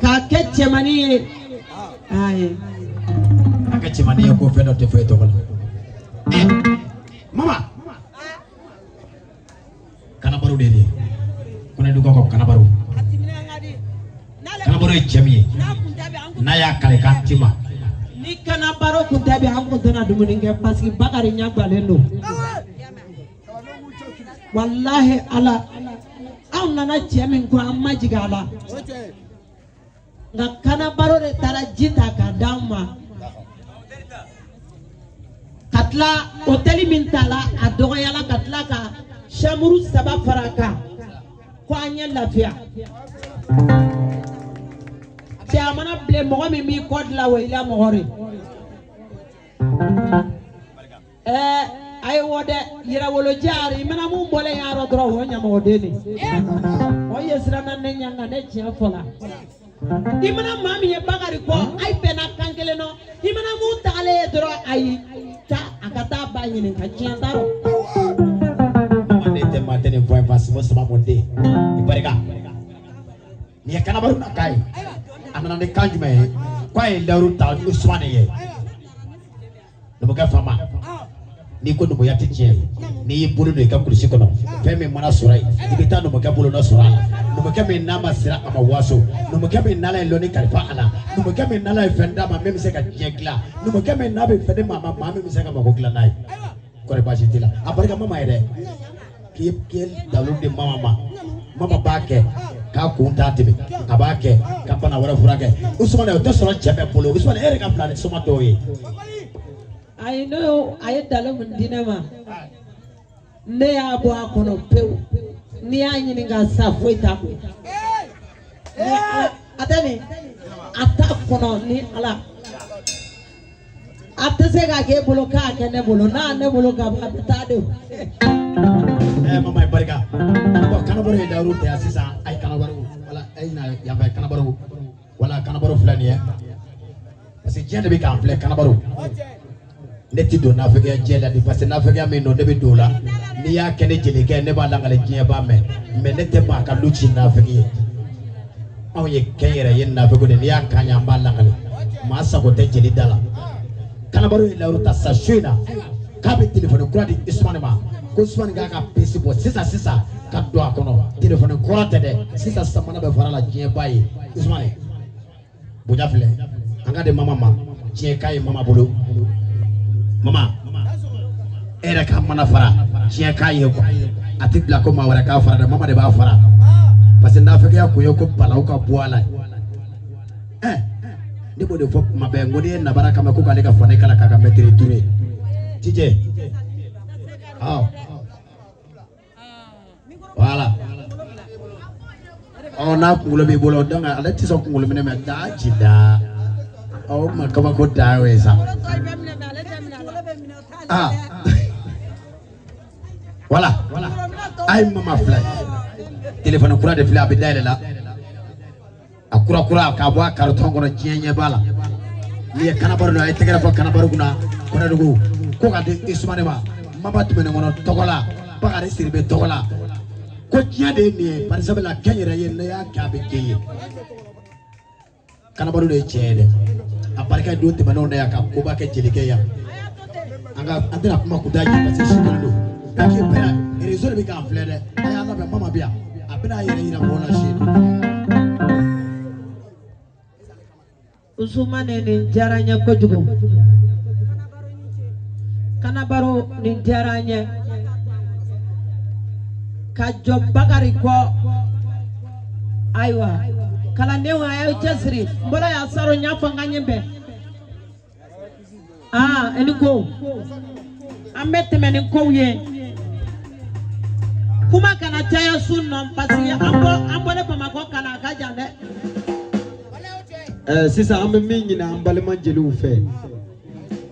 k'a kɛ cɛmannin ye ayi a kɛ cɛmannin ye ko fɛn dɔ tɛ fɔ e tɔgɔ la eh, mama kanabaro de ye kɔnɛdugukaw ka kanabaro kanabaro ye cɛ min ye n'a y'a kale k'a ti ma ni kanabaro kun tɛ bi an kun tɛna dumuni kɛ parce que bakari ɲɛganlen don walahi ala anw nana cɛ min ko an ma jigin a la nka kanabaro de taara ji ta ka d'anw ma ka tila hotɛli min tala a dɔgɔyala ka tila ka samuru saba fara a kan ko an ye lafiya cɛ a mana bilen mɔgɔ min b'i ko dilan o y'i la mɔgɔ de ye. ɛɛ a ye wɔ dɛ yɛrɛwolo jaari mana mun bɔlen y'a rɔ dɔrɔn o ye ɲamɔgɔden de ye o ye siranna ne ɲɛ nka ne tiɲɛ fɔla i mana maa min ye bakari kɔ ayi bɛnna kan kelen nɔ i mana mun tagalen ye dɔrɔn ayi taa a ka taa ba ɲini k'a tiɲɛ t'a rɔ. manden tɛ maa tɛ nin fɔ i ye baasi ma sama mɔden i barika nin ye kanabaru nakan ye a nana ni kan jumɛn ye k'a ye layidu ta usumana ye. numukɛ faama n'i ko numuya tɛ tiɲɛ ye n'i y'i bolo don i ka kulusi kɔnɔ fɛn min mana sɔrɔ yen i bɛ taa numukɛ bolonɔ sɔrɔ a la numukɛ min n'a ma siran a ma waso numukɛ min n'ala ye lɔnni kalifa a la numukɛ min n'ala ye fɛn d'a ma min bɛ se ka diɲɛ dilan numukɛ min n'a bɛ fɛn di maa ma maa min bɛ se ka mago dilan n'a y'i kɔrɔ baasi t'i la a barika mama ye dɛ k'i ye dalu di mama ma mama b'a kɛ k'a kun t'a dimi a b'a kɛ ka bana wɛrɛ furakɛ usumana o tɛ sɔrɔ cɛ bɛɛ bolo usumana e yɛrɛ ka fisa ni soma dɔw ye ayi n'o ye a ye dalu min di ne ma ne y'a bɔ a kɔnɔ pewu n'i y'a ɲininka sa foyi t'a kun a tɛ nin a t'a kɔnɔ ni ala a tɛ se ka k'e bolo k'a kɛ ne bolo n'a ne bolo ka ban a bɛ taa de o. ɛɛ eh, mama ye barika bɔn kanabaro ye layidu ta yan sisan a ye kanabaro wala a ye na yanfɛ kanabaro wala kanabaro filɛ nin ye parce que diɲɛ de bɛ k'an filɛ kanabaro ne ti don naafigiya diɲɛ la de parce que naafigiya min don ne bɛ don o la n'i y'a kɛ ne jelikɛ ne b'a lakale diɲɛ b'a mɛn mais ne tɛ maa ka lu ci naafigi ye. anw ye kɛnyɛrɛye naafigi de n'i y'a k'an ɲa an b'a lakale maa sago tɛ jeli da la kanabaro ye layidu ta sa su in na k'a bɛ telefɔni kura di isumani ma ko isumani k'a ka pisi bɔ sisan sisan ka don a kɔnɔ telefɔni kura tɛ dɛ sisan jamana bɛɛ farala diɲɛ b'a ye isumani bonya filɛ an k'a di mama ma diɲɛ k'a ye mama bolo mama e yɛrɛ ka mana fara diɲɛ k'a ye quoi a tɛ bila ko maa wɛrɛ k'a fara dɛ mama de b'a fara parce que nafigiya ko o ko bala o ka bɔ a la ɛɛ ne b'o de fɔ tuma bɛɛ n ko n'i ye nabara kan mɛn ko k'ale ka fani kala k'a ka mɛtiri duuru ye tijɛ ɔ. voilà ɔ n'a kunkolo b'i bolo dɔn ale tɛ sɔn kunkolo minɛ mɛ da ci da ɔ ma kabako da y'o ye sa aa voilà a ye mama filɛ telefɔni kura de filɛ a bɛ dayɛlɛ la. a kura kura k'a bɔ a karitɔn kɔnɔ diɲɛ ɲɛ b'a la n'i ye kanabaro don a ye tɛgɛrɛ fɔ kanabaro kunna kɔnɛdugu ko ka di usumani ma mama tumani kɔnɛ tɔgɔ la bakari sidibe tɔgɔ la ko diɲɛ de ye nin ye bari sabula kɛ n yɛrɛ ye n'i y'a kɛ a bɛ kɛ i ye kanabaro de ye tiɲɛ ye dɛ a barika don tɛmɛnenw na yan ka koba kɛ jelikɛ yan nka an tɛna kuma kuda ye parce que si kelen don donc i bɛna réseau de bɛ k'an filɛ dɛ a y'a labɛn mama bɛ yan a bɛna a yɛrɛ yira mɔgɔw la si la. Usumane nin diyara n ye kojugu kanabaro nin diyara n ye ka jɔ bakari kɔ ayiwa kalandenw a y'aw cɛsiri n bolo y'a saro n y'a fɔ n ka ɲɛ bɛn aa e ni ko an bɛ tɛmɛ ni kow ye kuma kana caya su nɔ parce que an bɔ an bɔlen bamakɔ ka na a ka jan dɛ. Eh, sisan an bɛ min ɲini an balima jeliw fɛ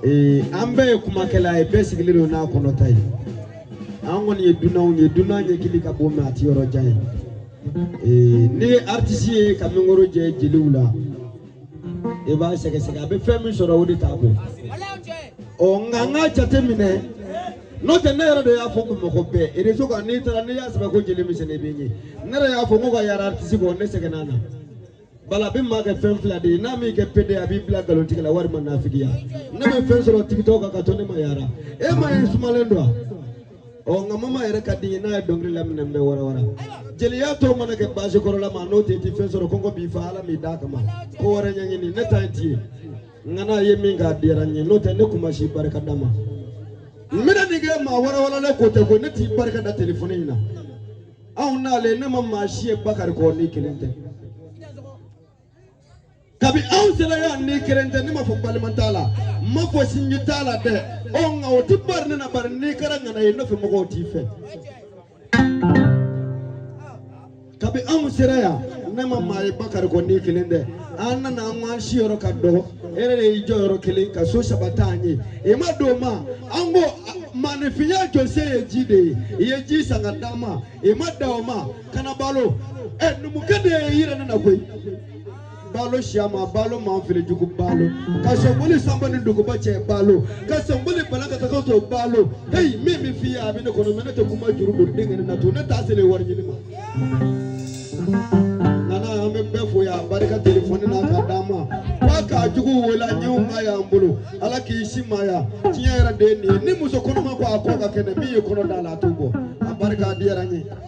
eh, an bɛɛ ye kumakɛla ye bɛɛ sigilen don n'a kɔnɔta ye an kɔni ye dunanw ye dunan ɲɛkili ka bon mais a ti yɔrɔ jan ye eh, ne ye aritisi ye ka mikoro jɛ jeliw la i b'a sɛgɛsɛgɛ a bɛ fɛn min sɔrɔ o de t'a bɔ ɔ nka n k'a jate minɛ n'o tɛ ne yɛrɛ de y'a fɔ ko mɔgɔ bɛɛ réseau kan n'i taara n'i y'a sɛbɛn ko jeli misɛnnin bɛ ɲɛ ne yɛrɛ y'a fɔ ko ka yaara artisi kɔ ne sɛgɛnna a la bala a bɛ maa kɛ fɛn fila de ye n'a m'i kɛ pédé a b'i bila nkalontigɛ la walima nafigiya ne bɛ fɛn sɔrɔ tiktok kan ka to ne ma yaara e m'a ye n sumalen don wa. ɔ nka mama yɛrɛ ka di n ye n'a ye dɔnkili laminɛ n bɛ warawara jeliya tɔw mana kɛ baasi kɔrɔla ma n'o tɛ i ti fɛn sɔrɔ kɔngɔ b'i faa ala m'i d'a kama ko wɛrɛ ɲɛɲini ne ta ye ti ye nka n'a ye min k'a diyara n ye n'o tɛ ne kun ma si barika da maa min ye nin kɛ maa warawaralen ko tɛ ko ne t'i barika da telefɔni in na anw nalen ne ma maa si ye bakari kɔ n'i kelen tɛ kabi anw sera yan n'i kelen tɛ ne m'a fɔ balima t'a la n m'a fɔ sinji t'a la dɛ ɔ nka o tɛ bari ne na bari n'i kɛra ŋana ye nɔfɛ mɔgɔw t'i fɛ kabi anw sera yan ne ma maa ye bakari kɔ n'i kelen tɛ an nana an ko an si yɔrɔ ka dɔgɔ e yɛrɛ de y'i jɔ yɔrɔ kelen ka so saba t'an ye i ma dan o ma an ko maanifinya jɔsen ye ji de ye i ye ji san ka d'an ma i ma dan o ma kana balo ɛ eh, numukɛ de y'i yira ne na koyi balo siyama balo manfilijugu balo ka sɔnboli sanba ni duguba cɛ balo ka sɔnboli bala ka taga to balo heyi min bɛ f'i ye a bɛ ne kɔnɔ mɛ ne tɛ kuma juru don denkɛ ne na to ne t'a seli wari ɲini ma nana an bɛ bɛɛ fo yan barika telefɔni na ka d'a ma wa k'a jugu waleɲuman y'an bolo ala k'i simaya tiɲɛ yɛrɛ de ye nin ye ni muso kɔnɔma ko a ko ka kɛnɛ min ye kɔnɔ da la a t'o bɔ a barika diyara n ye